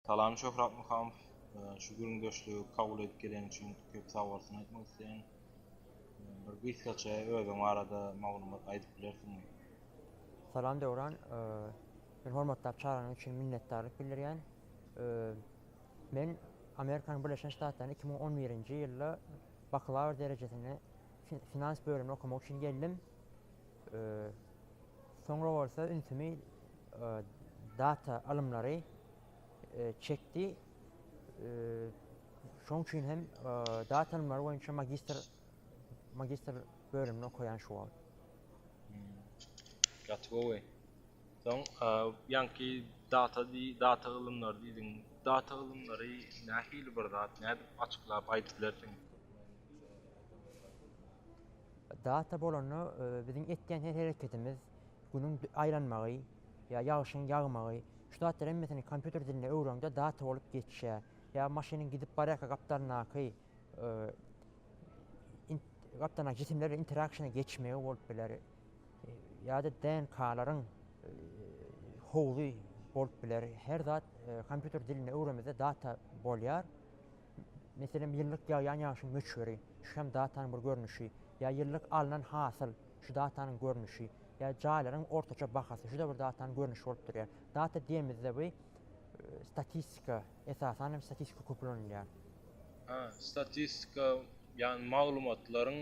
Salam Şöhrat Muhamow. Şu gürrüňdeşligi kabul edip geleniň üçin köp sag bolsun aýtmak isleýän. Bir gysgaça özüň barada maglumat aýdyp bilersiňmi? Salam Döwran. Men hormatlap çagyryň üçin minnetdarlyk bildirýän. Men Amerikanyň Birleşen Ştatlaryna iki müň on birinji ýylda baklawr derejesini finans bölümini okamak üçin geldim. Soňra bolsa ünsümi data alymlary çekdi. Şoň üçin hem data alymlary boýunça magistr magistr bölümini okaýan şu wagt. Gaty gowy. Soň ýaňky data data alymlary diýdiň. Data alymlary nähili bir zat? Nädip açyklap aýdyp bilersiň? Data bolanda biziň etýän her hereketimiz, günüň aýlanmagy ýa ýagşyň ýagmagy, şu zatlar hemmesini kompýuter dilinde öwreňde data bolup geçýär. Ýa maşynyň gidip barýarka gapdalyndaky gapdalyndaky jisimler bilen interakşena geçmegi bolup biler. Ýa-da DNK-laryň howzy bolup biler. Her zat kompýuter dilinde öwrenmede data bolýar. Meselem, ýyllyk ýagýan ýagşyň möçberi, şu hem datanyň bir görnüşi, ýa ýyllyk alnan hasyl, şu datanyň görnüşi, ýa jaýlaryň ortaça bahasy, şu-da bir datanyň görnüşi bolup durýar. Data diýemizde bu statistika, esasan hem statistika köp ulanylýar. Hä, statistika, ýagny maglumatlaryň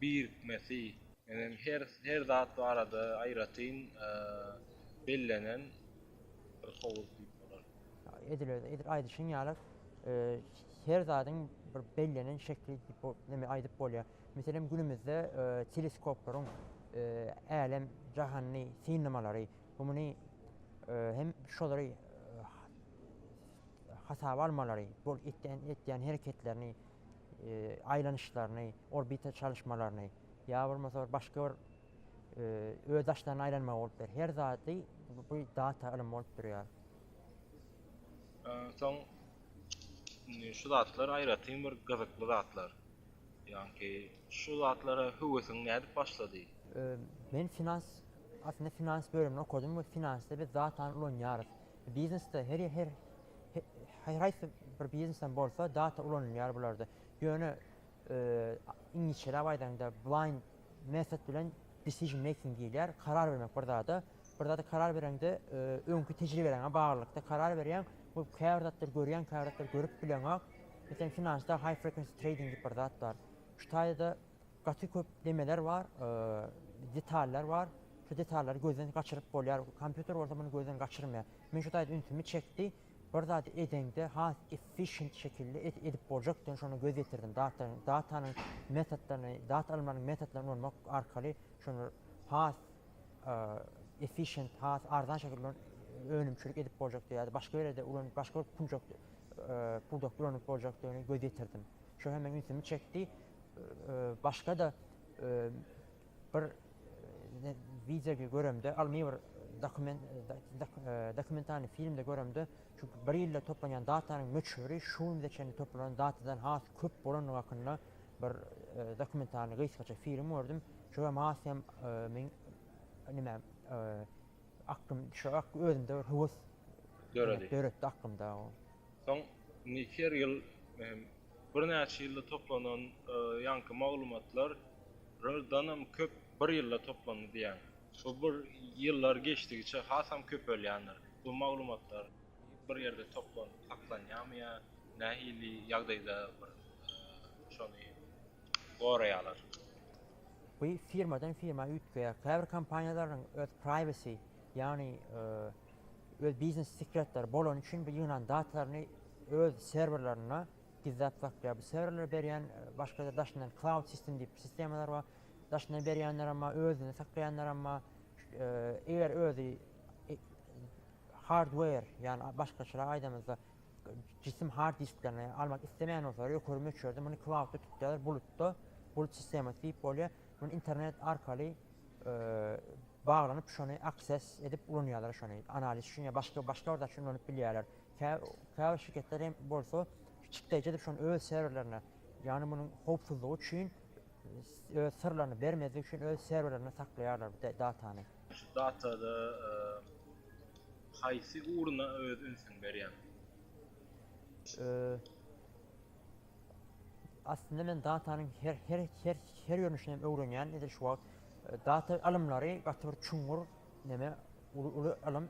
birikmesi. Menem her her zat barada aýratyn bellenen bir howuz diýip bolar. Edil öz edil aýdyşyň ýaly her zadyň bir bellenen şekli näme aýdyp bolýar. Meselem günümizde teleskoplaryň älem jahanyny synlamalary bu muny hem şolary hasaba almalary bol etýän etýän hereketlerini aýlanyşlaryny orbita çalyşmalaryny ýa bolmasa başga bir öz daşlaryna aýlanma bolupdyr. Her zady bu data ylym bolup durýar. Soň şu zatlar aýratyn bir gyzykly zatlar. Ýagny şu zatlara höwesiň nädip başlady? Men finans aslynda finans bölümini okadym we finansda biz datany ulanýarys. Biznesde her her her haýsy bir biznesden bolsa data ulanylýar bularda. Ýöne iňlisçeläp aýdaňda blind method bilen decision making diýilýär. Karar bermek bir zada. Bir zada karar bereňde öňki tejribeleriňe baglylykda karar berýäň. Bu käbir zatlary görýäň, käbir zatlary görüp bileňok. Meselem, finansda high frequency trading diýip bir zat bar. Şu taýda gaty köp nemeler bar, detallar bar. Şu detallary gözden gaçyryp bolýar. Kompýuter bolsa muny gözden gaçyrmaýar. Men şu taýda ünsümi çekdi. Bir zady edeňde has efficient şekilde edip boljak diýen şona göz ýetirdim. Datanyň datanyň metodlaryny, data almanyň metodlaryny ulanmak arkaly şony has efficient, has arzan şekilde önümçilik edip boljak diýýär. Başga ýerde ulan başga bir puljak pudak ulanyp boljak diýeni göz ýetirdim. Şo hem meniň ünsümi çekdi. Başga da Bir wideo göremde, ylmy bir dokumentalny filmde göremde, şu bir ýylda toplanýan datanyň möçberi şu günde çenli toplanan datadan has köp bolandygy hakynda bir dokumentalny gysgaça film gördüm. Şo hem has hem meň nime aklym şu özümde bir höwes döretdi aklymda. Soň indi her ýyl hem birnäçe ýylda toplanan ýaňky maglumatlardanam köp bir ýylda toplandy diýýän. Bu bir ýyllar geçdigiçe hasam köpelýändir. Bu maglumatlar bir ýerde toplanyp saklanýarmy ýa nähili ýagdaýda bir şony goraýarlar? Bu firmadan firma üýtgeýär. Käbir kompaniýalaryň öz privacy, ýagny öz biznes sekretleri bolany üçin bu ýygnan datlaryny öz serwerlerinde gizläp saklaýar. Bu serwerler berýän başga-da daşyndan cloud system diýip sistemalar bar. Daşyndan berýänler hem bar, özünde saklaýanlar hem bar. Eger özi hardware, ýagny başgaçarak aýdamyzda jisim hard disklerini almak islemeýän bolsalar, ýokary möçberde muny cloud-da tutýarlar, bulutda, bulut sistemasy diýip bolýar. Muny internet arkaly baglanyp şony akses edip ulanýarlar şony analiz üçin ýa başga başga bir zat üçin ulanyp bilýärler käbir şirketler hem bolsa çykdaýjy edip şony öz serwerlerine ýagny munuň howpsuzlygy üçin öz syrlaryny bermezlik üçin öz serwerlerinde saklaýarlar bu datany. Şu datada e, haýsy uruna öz ünsüň berýän? E, Aslynda men datanyň her her her her görnüşini hem öwrenýän edil şu wagt. Data ylymlary gaty bir çuňňur neme, uly uly ylym.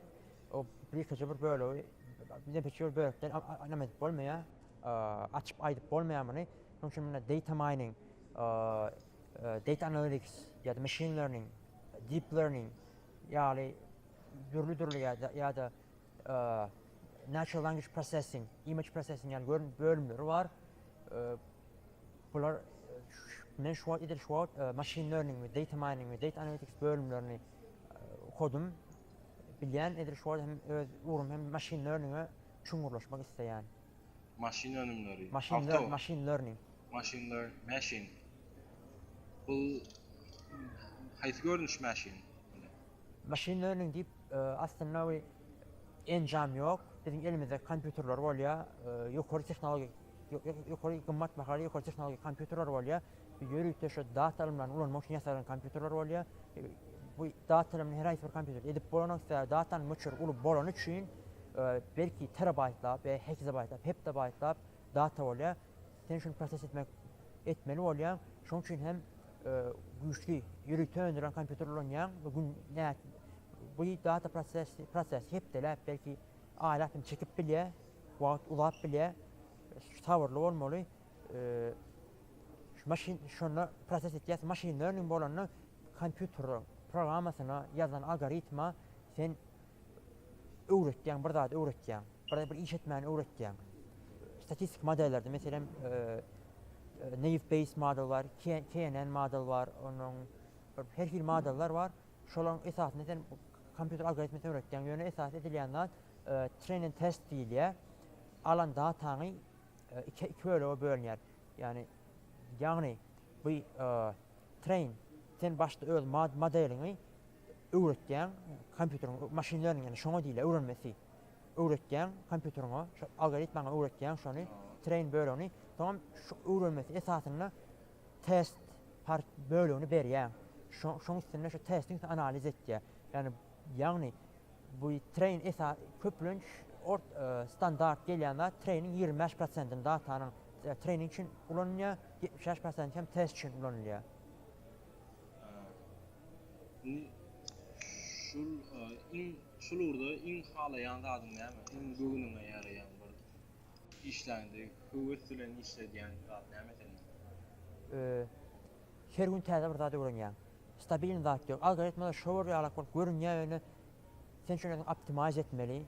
O birikije bir bölegi, birikije bir bölekden neme edip bolmaýar, açyp aýdyp bolmaýar muny. Şonuň üçin munda data mining, data analytics ýa-da machine learning, deep learning ýaly dürli-dürli ýa-da Natural Language Processing, Image Processing ýaly görnüş bölümleri bar. Bular men şu wagt edil şu wagt Machine Learning we Data Mining we Data Analytics bölümlerini okodym. Bilýän edil şu wagt hem öz ugrum hem Machine Learning-e çuňňurlaşmak isleýän. Maşyn önümleri. Maşyn learning. Maşyn learning. Maşyn learning. Maşyn. Bu haýsy görnüş maşyn? Maşyn learning diýip Aslynda bir enjam ýok. Biziň elimizde kompýuterler bolýar. Ýokary tehnologik, ýokary gymmat bahaly ýokary tehnologik kompýuterler bolýar. Ýörite şu data ylymlaryny ulanmak üçin ýasalan kompýuterler bolýar. Bu data ylymyny her haýsy bir kompýuterde edip bolanok. Sebäbi datanyň möçberi uly bolany üçin belki terabaýtlap, hekizabaýtlap, heptabaýtlap data bolýar. Sen şuny proses etmek etmeli bolýaň. Şonuň üçin hem güýçli ýörite öndürilen kompýuter ulanýaň we gün bu data prosesi hepdeläp, belki aýlap hem çekip bilýär, wagt uzap bilýär. Sabyrly bolmaly. Maşyn şonda proses etýär, maşyn learning bolanda kompýuter programmasyna ýazylan algoritma sen öwretýäň, bir zat öwretýäň, bir bir iş etmäni öwretýäň. Statistik modellerde, meselem, Naive Bayes model bar, KNN model bar, onuň her hil modeller bar. Şolaryň esasynda sen kompýuter algoritmini öwretýäň. Ýöne esas edilýän zat train and test diýilýär. Alan dataňy iki iki bölege bölünýär. Ýagny ýagny bu train sen başda öz modeliňi öwretýäň kompýuteriň machine learning şoňa diýilýär öwrenmesi öwretýäň kompýuteriňe şo algoritmaňa öwretýäň şony train bölegini soňam şu öwrenmesi esasynda test part bölegini berýäň şoň üstünde şu testiň üstünde analiz etýär ýagny ýagny bu train esa köplenç ort standart gelýän zat trainiň ýigrimi bäş prosentini datanyň trainiň üçin ulanylýar ýetmiş bäş prosenti hem test üçin ulanylýar. Şul iň şul ugurda iň halaýan zadyň näme? Iň göwnüňe ýaraýan bir işleňde höwes bilen işledýän zat näme sende? Her gün täze bir zat öwrenýäň. Stabilnyý zat ýok. Algoritmada şower ýalak bolup görünýär ýöne sen şony özüň optimize etmeli,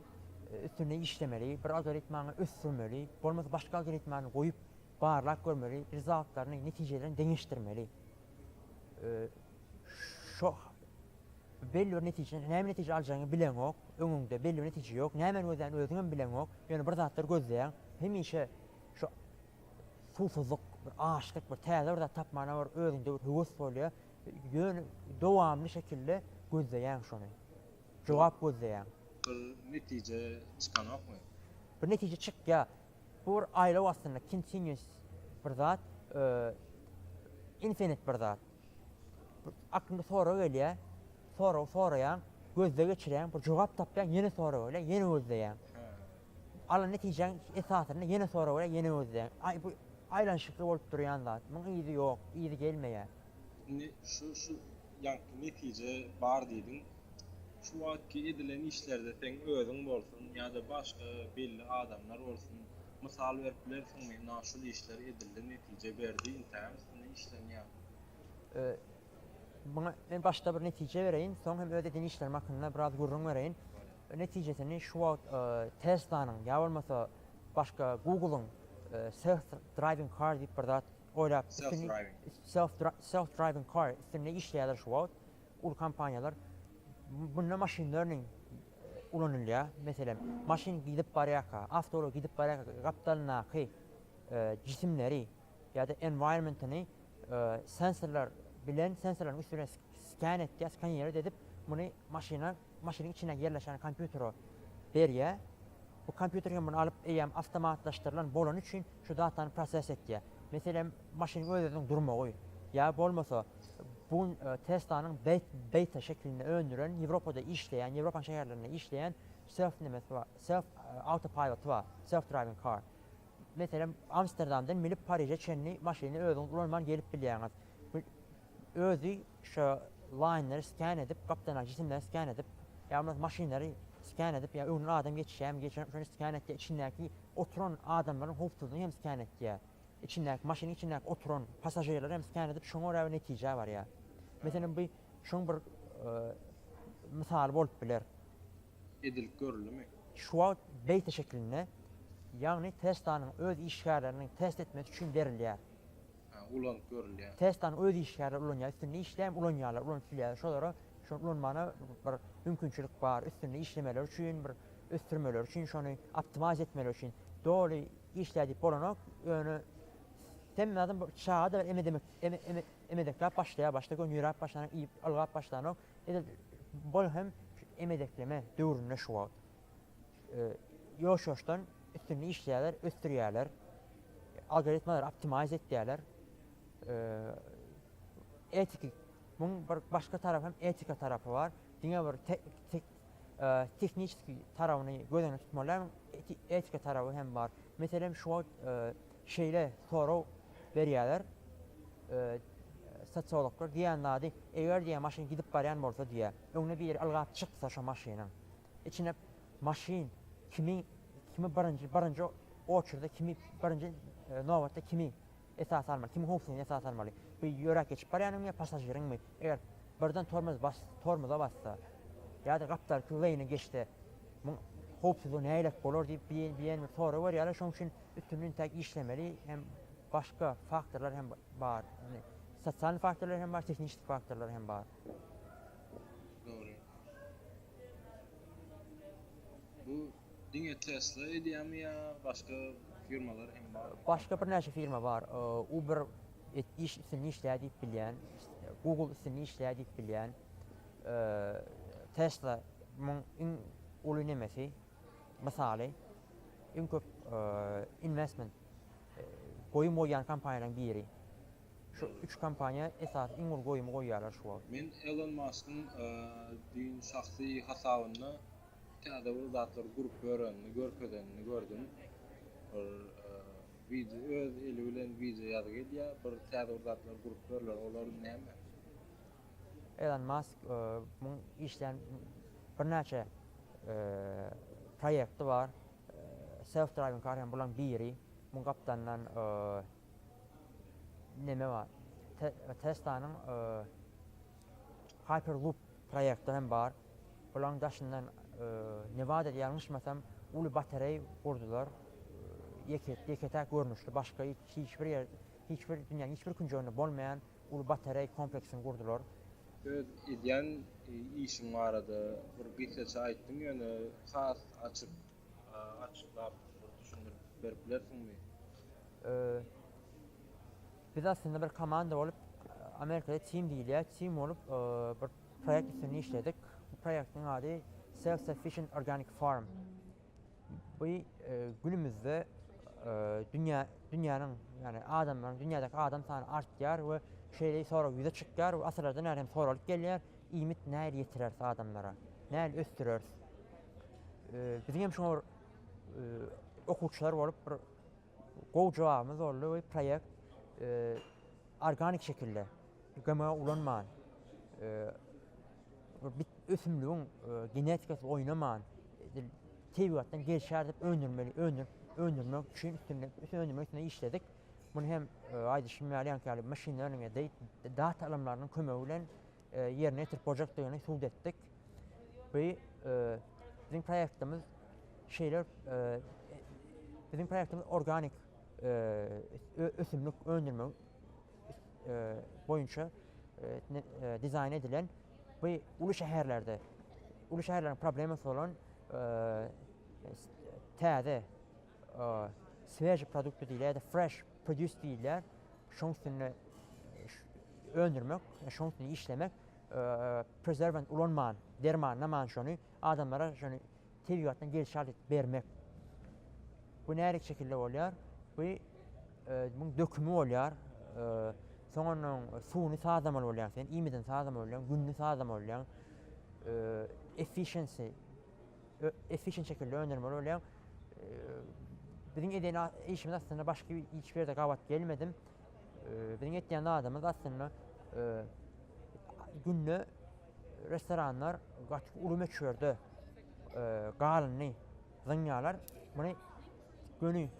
üstünde işlemeli, bir algoritmaňy ösdürmeli, bolmasa başga algoritmany goýup barlap görmeli, rezultatlaryny, netijelerini deňeşdirmeli. Şo belli bir netije, näme netije aljagyňy bileňok, öňüňde belli bir netije ýok, nämeni gözlän özüňem bileňok, ýöne bir zatlar gözleýäň, hemişe şo suwsuzlyk, bir açlyk, bir täze bir zat tapmana bir özüňde bir höwes bolýar, ýöne dowamly şekilde gözleýäň şony, jogap gözleýäň. Bir netije çykanokmy? Bir netije çykýar. Bu bir aýlaw aslynda continuous bir zat infinite bir zat. Aklymda sorag gelýär, sorag soraýaň, gözde geçirýäň, bir jogap tapýaň, ýene sorag gelýär, ýene gözleýäň. Alan netijäň esasynda ýene sorag gelýär, ýene gözleýäň. Aý bu aýlanyşykly bolup durýan zat. Muň yzy ýok, yzy gelmeýär. Indi şu şu Ýagty netije bar diýdiň. Şu wagtky edilen işlerde seň özüň bolsun ýa-da başga belli adamlar bolsun, mysal berip bilersiňmi, ynha şul işler edildi, netije berdi, intägem üstünde işlenýär? Muňa men başda bir netije bereýin, soň hem öz eden işlerim hakynda biraz gürrüň bereýin. Netijesini şu wagt Tesla-nyň ýa bolmasa başga Google-yň Self Driving Car diýip bir zat Oýlap, self-driving car üstünde işleýärler şu wagt uly kompaniýalar. Munda machine learning ulanylýar. Meselem, maşyn gidip barýarka, awtoulag gidip barýarka gapdalyndaky jisimleri ýa-da environment-yny sensorlar bilen, sensorlaryň üsti bilen sken edýär, skanirowat edip, muny maşyna maşynyň içinde ýerleşen kompýutere berýär. Bu kompýuter hem muny alyp, eýýäm awtomatlaşdyrylan bolany üçin şu datany proses etýär. Meselem, maşynyň öz-özüniň durmagy ýa bolmasa bu gün Tesla-nyň beta şekilinde öndüren, Ýewropada işleýän, Ýewropanyň şäherlerinde işleýän Self nemesi bar, Self awtopilot-y bar, Self driving car. Meselem, Amsterdamdan minip Pariže çenli maşyny özüňiz ulanman gelip bilýäňiz. Özi şo laýneri sken edip, gapdalyndaky jisimleri sken edip, ýa bolmasa maşynlary sken edip, ýa öňünden adam geçýärmi, geçýärmi şony sken etýär, içindäki oturan adamlaryň howpsuzlygyny hem sken etýär. Içindäki maşynyň içindäki oturan passažirleri hem sken edip şoňa görä bir netijä barýar. Meselem bu şoň bir mysaly bolup biler. Edilip görüldimi? Şu wagt beta şeklinde, ýagny Tesla-nyň öz işgärleriniň test etmesi üçin berilýär. ulanyp görülýär. Testany öz işgärleri ulanýar, üstünde işläm ulanýarlar, ulanyp bilýärler. Şolara şony ulanmagyna bir mümkinçilik bar, üstünde işlemeleri üçin, bir ösdürmeleri üçin, şony optimize etmeleri üçin. Doly işlär diýip bolanok, ýöne hemme adam bir çaga-da emedemek, emedekläp başlaýar, başda göni ýöräp başlanok, iýip, ylgap başlanok. Edil bol hem emedekleme döwründe şu wagt. ýoş-ýoşdan üstünde işleýärler, ösdürýärler, algoritmalary optimize etýärler. Etiki, muň bir başga tarap hem etika tarapy bar. Diňe bir tehniçeski tarabyny göz öňünde tutmaly, etika taraby hem bar. Meselem, şu wagt şeýle sorag berýärler, sosiologlar diýýän zady, eger diýýär, maşyn gidip barýan bolsa diýýär, öňüne biri ylgap çyksa şo maşynyň, Içine maşyn kimin kimi birinji birinji oçurda kimi birinji nobatda kimi esas almaly kimi howpsuzlygyny esas almaly bu ýöräp geçip barýanyňmy ýa pasažiriňmi eger birden tormoz bas tormoza bassa ýa-da gapdalky leýne geçse muň howpsuzlygy näilelik bolar diýip biýen biýen bir sorag berýärler şoň üçin üstünli intäk işlemeli hem başga faktorlar hem bar ýagny sosial faktorlar hem bar tehnişik faktorlar hem bar. Dogry. Bu diňe Tesla edýärmi ýa başga firmalar hem barmy? Başga birnäçe firma bar. Uber iş üstünde işleýär diýip bilýän. Google üstünde işleýär diýip bilýän. Tesla muň iň uly nemesi, mysaly. Iň köp investment, goýum goýýan kompaniýalaryň biri. Şu üç kompaniýa esasy iň uly goýumy goýýarlar şu wagt. Men Elon Maskyň düýn şahsy hasabynda täze bir zatlar gurup ýörenini, görkezenini gördüm. Bir wideo öz eli bilen wideo ýazygy edýär, bir täze bir zatlar gurup ýörler, olar näme? Elon Mask muň işleýän birnäçe proýekti bar. Self driving car hem bularyň biri. Muň gapdalyndan Neme bar? Teslanyň Hyperloop proýekti hem bar. Bulaň daşyndan Newada ýalňyşmasam uly batereý gurdular. Ýeke-täk görnüşli başga hiç bir ýerde, hiç bir dünýäniň hiç bir künjeginde bolmaýan uly batereý kompleksini gurdular. Öz edýän işiň barada bir gysgaça aýtdyň ýöne has açyk Açyklap bir düşündirip berip bilersiňmi? Biz aslynda bir komanda bolup, Amerikada team diýilýär, team bolup bir proýekt üstünde işledik. Bu proýektiň ady Self Sufficient Organic Farm. Bu günümizde dünýä dünýäniň, ýagny adamlaryň, dünýädäki adam sany artýar we şeýle sorag ýüze çykýar we asyrlardan bäri hem soralyp gelýär, iýmit nähili ýetireris adamlara? Nähili ösdüreris? Biziň hem şoňa bir okuwçylar bolup bir gowy jogabymyz boldy we proýekt organik şekilde GMO ulanman bir ösümligiň genetikasy oýnaman tebigatdan gelşär dip öndürmeli öndür öndürmek üçin üstünde öndürmek üstünde işledik. Bunu hem aýdyşym ýaly ýaňky ýaly maşynlaryň data alymlarynyň kömegi bilen ýerine ýetirip boljakdygyny subut etdik. Bu biziň proýektimiz şeýle biziň proýektimiz organik ösümlik öndürmek boýunça dizaýn edilen bu uly şäherlerde uly şäherleriň problemasy bolan täze Sveži produkty diýilýär ýa-da fresh produce diýilýär. Şoň üstünde öndürmek, şoň üstünde işlemek, prezerwant ulanman, dermanlaman şony adamlara şony tebigatdan gelşi alyp bermek. Bu närik şekilde bolýar? Bu muň dökümi bolýar. Soň onuň suwuny sazlamaly bolýar sen, iýmidini sazlamaly bolýar, gününi sazlamaly bolýar. Efficiency efficient şekilde öndürmeli bolýaň. Biziň eden işimiz aslynda başga hiç ýerde gabat gelmedim. Biziň etýän zadymyz aslynda günde restoranlar gaty uly möçberde galyndy zyňýarlar. Muny göni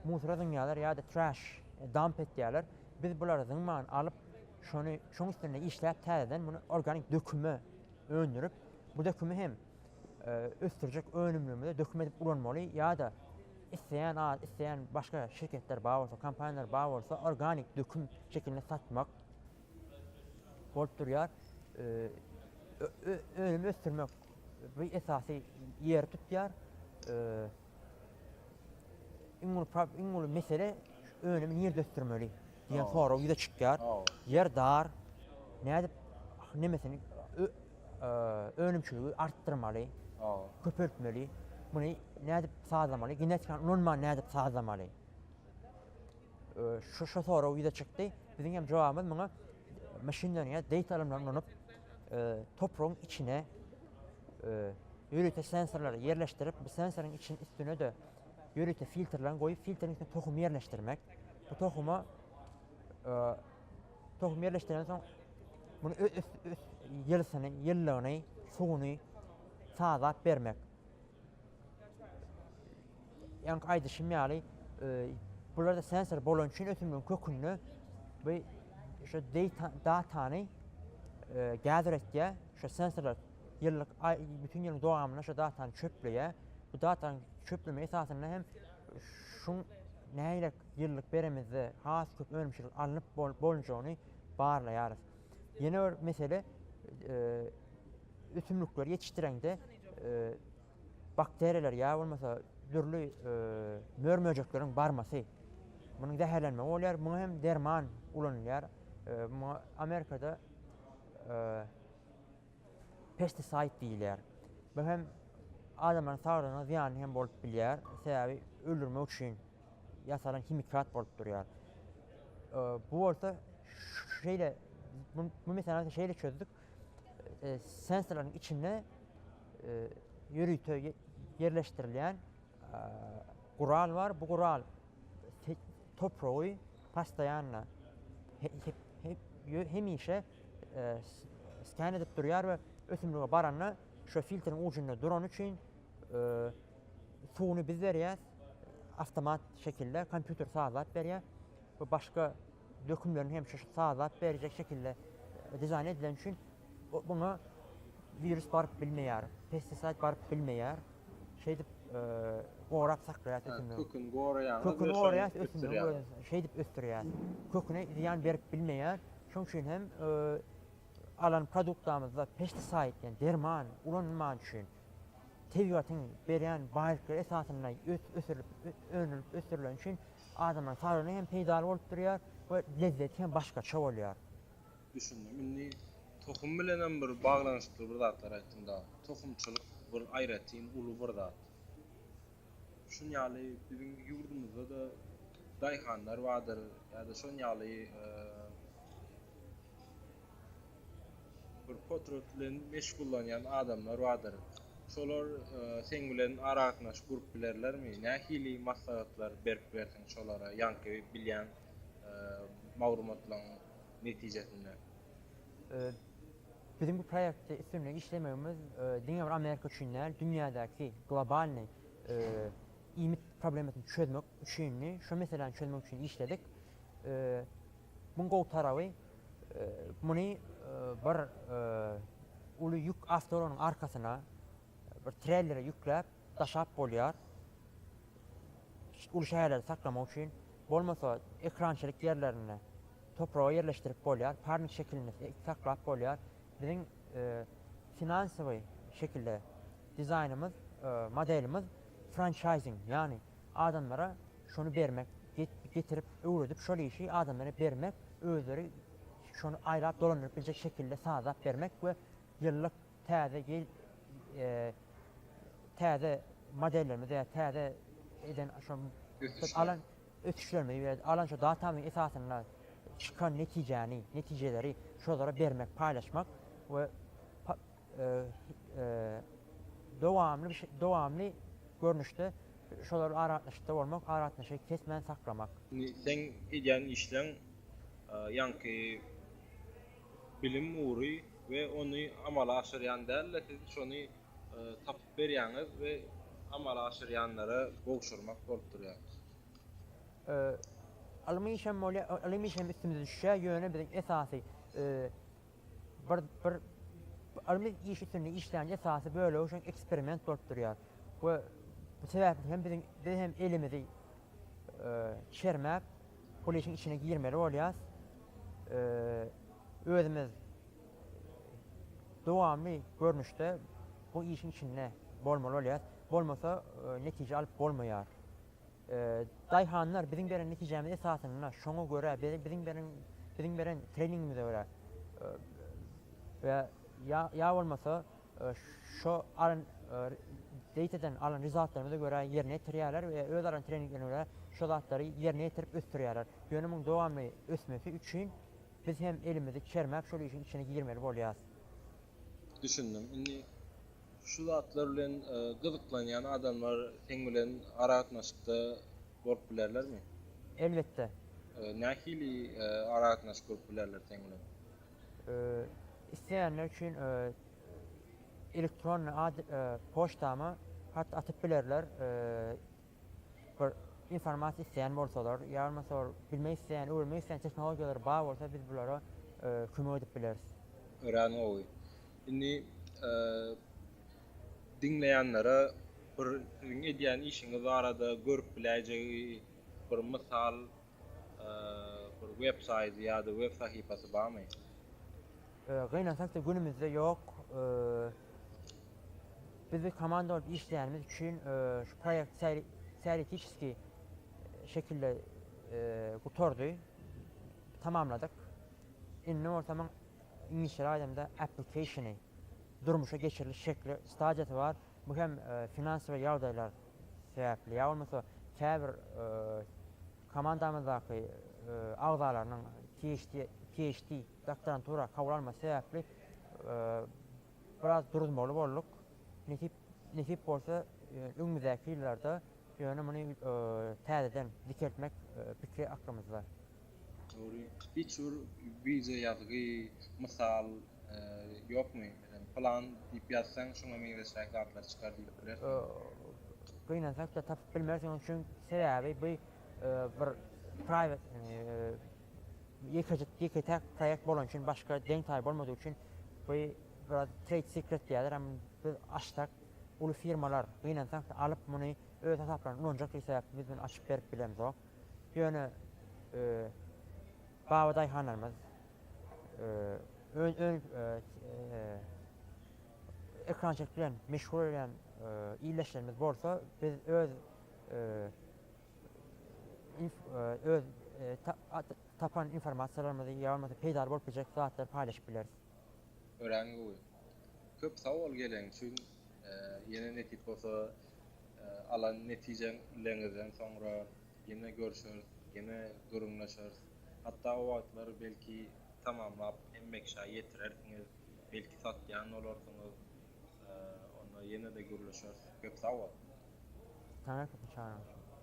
musora zyňýarlar ýa-da trash, damp etýärler. Biz bulary zyňman alyp, Şony şoň üstünde işläp täzeden muny organik döküme öndürip bu dökümi hem ösdürjek önümlerimize döküm edip ulanmaly ýa-da isleýän ad isleýän başga şirketler bar bolsa kompaniýalar bar bolsa organik döküm şekilinde satmak bolup durýar. Önüm ösdürmek bu esasy ýeri tutýar. iň uly prob- iň uly mesele önümi nirde ösdürmeli diýen Hawa. sorag ýüze çykýar. Hawa. Ýer dar. Nädip nemesini ö- eee, önümçiligi artdyrmaly, Hawa. köpeltmeli? Muny nädip sazlamaly? Genetikany ulanman nädip sazlamaly? Eee, şu şu sorag ýüze çykdy. Biziň hem jogabymyz muňa maşin learning ýa data ylymlaryny ulanyp, topragyň içine ýörite sensorlary ýerleşdirip, bu sensoryň içine üstüne-de ýörite filtrlerini goýup, filtriň içine tohumy ýerleşdirmek. Bu tohuma tohum ýerleşdirenden soň muny ýylysyny, ýylylygyny, suwuny sazap bermek. Ýaňky aýdyşym ýaly, bularda sensor bolany üçin ösümligiň kökünde bu şu datany gather etýär. Şu sensorlar ýyllyk bütün ýylyň dowamynda şu datany çöpleýär. Bu datanyň çöpleme esasynda hem şu nähili ýyllyk beremizde has köp önümçilik alnyp bolunjagyny barlaýarys. Ýene bir mesele ösümlikleri ýetişdireňde bakteriýalar ýa bolmasa dürli mör-möjekleriň barmasy. Munuň zäherlenmegi bolýar, muňa hem derman ulanylýar. Muňa Amerikada pestisaýd diýilýär. Bu hem adamlaryň saglygyna zyýanly hem bolup bilýär. Sebäbi öldürmek üçin ýasalan himikat bolup durýar. Bu bolsa şeýle bu meselä şeýle çözdük. E, sensorlaryň içinde e, ýörite ýerleşdirilýän e, gural bar. Bu gural topragy pastaýanla hemişe sken edip durýar we ösümlige baranda şo filtriň ujunda durany üçin suwuny biz berýäs, awtomat şekilde kompýuter sazlap berýär we başga dökünlerini hem şu sazlap berjek şekilde dizaýn edileni üçin muňa wirus baryp bilmeýär, pestisaýd baryp bilmeýär. Şeýdip gorap saklaýar ösümligi. Köküni goraýar. Köküni goraýar ösümligi. Şeýdip ösdürýär. Köküne zyýan berip bilmeýär. Şoň üçin hem alan produktamyzda pestisaýd, ýagny derman ulanylman üçin tebigatyň berýän baýlyklary esasynda ösdürilip, önülip ösdürilen üçin adamyň saglygyna hem peýdaly bolup durýar we lezzeti hem başgaça bolýar. Düşündim. Indi tohum bilenem bir baglanyşykly bir zatlar aýtdyň dagy. Tohumçylyk bir aýratyn uly bir zat. Şun ýaly biziň ýurdumyzda-da daýhanlar bardyr ýa-da şon ýaly bir potrat bilen meşgullanýan adamlar bardyr. Şolar seň bilen aragatnaşyp gurup bilerlermi? Nähili maslahatlar berip bilersiň şolara ýaňky bilýän maglumatlaryň netijesinde? Biziň bu proýektde üstünlik işlemegimiz diňe bir Amerika üçin däl, dünýädäki globalnyý iýmit problemasyny çözmek üçindi. Şo meseläni çözmek üçin işledik. Muň gowy taraby, muny bir uly ýük awtoulagynyň arkasyna, bir trellere ýükläp daşap bolýar. Uly şäherlerde saklamak üçin, bolmasa ekrançylyk ýerlerinde Topraga ýerleşdirip bolýar, parnik şekilinde saklap bolýar. Biziň finansowy şekilde dizaýnymyz, modelimiz françaýzing, ýagny adamlara şony bermek, getirip, öwredip şol işi adamlara bermek, özleri şony aýlap dolandyryp biljek şekilde sazlap bermek we ýyllyk täze ýyl täze modellerimizi ýa täze eden şo alan ösüşlerimizi we alan şu datamyň esasynda çykan netijäni, netijeleri şolara bermek, paýlaşmak we dowamly dowamly görnüşde şolar bilen aragatnaşykda bolmak, aragatnaşygy kesmän saklamak. Indi seň edýän işleň ýaňky bilim ugry we ony amala aşyrýan däl-de siz şony berýäňiz we amala aşyrýanlara gowşurmak bolup durýar. Ylym işem bolýar, ylym işem üstümize düşýär, ýöne biziň esasy bir bir ylmy iş üstünde işleýän esasy bölegi şol eksperiment bolup durýar we bu sebäpli hem biziň biz hem elimizi çermäp, bul işiň içine girmeli bolýarys. Özümiz. Dowamly görnüşde bu işiň içinde bolmaly bolýar. Bolmasa netije alyp bolmaýar. Daýhanlar biziň beren netijämiz esasynda şoňa görä biziň beren biziň beren treningimize görä we ýa bolmasa şo alan zeýteden alan rezultatlarymyza görä ýerine ýetirýärler we öz alan treninglerine görä şo zatlary ýerine ýetirip ösdürýärler. Ýöne muň dowamly ösmesi üçin Biz hem elimizi çermäp şol işiň içine girmeli bolýas. Düşündim. Indi şu zatlar bilen gyzyklanýan adamlar seň bilen aragatnaşykda bolup bilerlermi? Elbetde. Nähili aragatnaşyk gurup bilerler seň bilen? Isleýänler üçin elektronny poçtama hat atyp bilerler. bir informasiýa isleýän bolsalar, ýa bolmasa bir bilmek isleýän, öwrenmek isleýän tehnologiýalary bar bolsa, biz bulara kömek edip bileris. Örän gowy. Indi diňleýänlere bir siziň edýän işiňiz barada görüp biläýjegi bir mysal Bir web saýty ýa-da web sahypasy barmy? Gynansak-da günümizde ýok. Biz bir komanda bolup işleýänimiz üçin şu proýekt teoretiçeskiý şekilde gutardy, tamamladyk. Indi bolsa muň iňlisçeräk aýdamda application-y, durmuşa geçiriliş şekli, stadiýasy bar. Bu hem finansowy ýagdaýlar sebäpli ýa bolmasa käbir komandamyzdaky agzalarynyň PHD, doktorantura, kabul almasy sebäpli biraz duruzmaly bolduk. Nesip bolsa öňümizdäki ýyllarda ýöne muny täzeden dikeltmek pikiri aklymyzda. Dogry hiç bir wideo ýazgy mysal ýokmy meselem plan diýip ýazsaň şuňa meňzeşräk zatlar çykar diýip bilersiňmi. Gynansakda tapyp bilmersiňiz çün sebäbi bu bir private ýekejik ýeketäk proýekt bolany üçin başga deň taýy bolmadygy üçin bu biraz trade secret diýerler hem biz açsak uly firmalar gynansakda alyp muny öz hasaplaryna ulanjak diýip sebäp biz muny açyp berip bilemzok. Ýöne baba daýhanlarymyz ekerançylyk bilen meşgul bolýan ildeşlerimiz bolsa biz öz öz tapan informasiýalarymyzy ýa bolmasa peýdaly bolup biljek zatlary paýlaşyp bileris. Örän gowy. Köp sag bol gelen üçin. Ýene nesip bolsa Alan netijeň leňizden soňra ýene görşeris, ýene gürrüňleşeris. Hatda o wagtlar belki tamamlap hem Mekşa ýetirersiňiz, belki satýan bolarsyňyz. Onda ýene-de gürleşeris. Köp sag bol! Saňa köp çagyrşyn.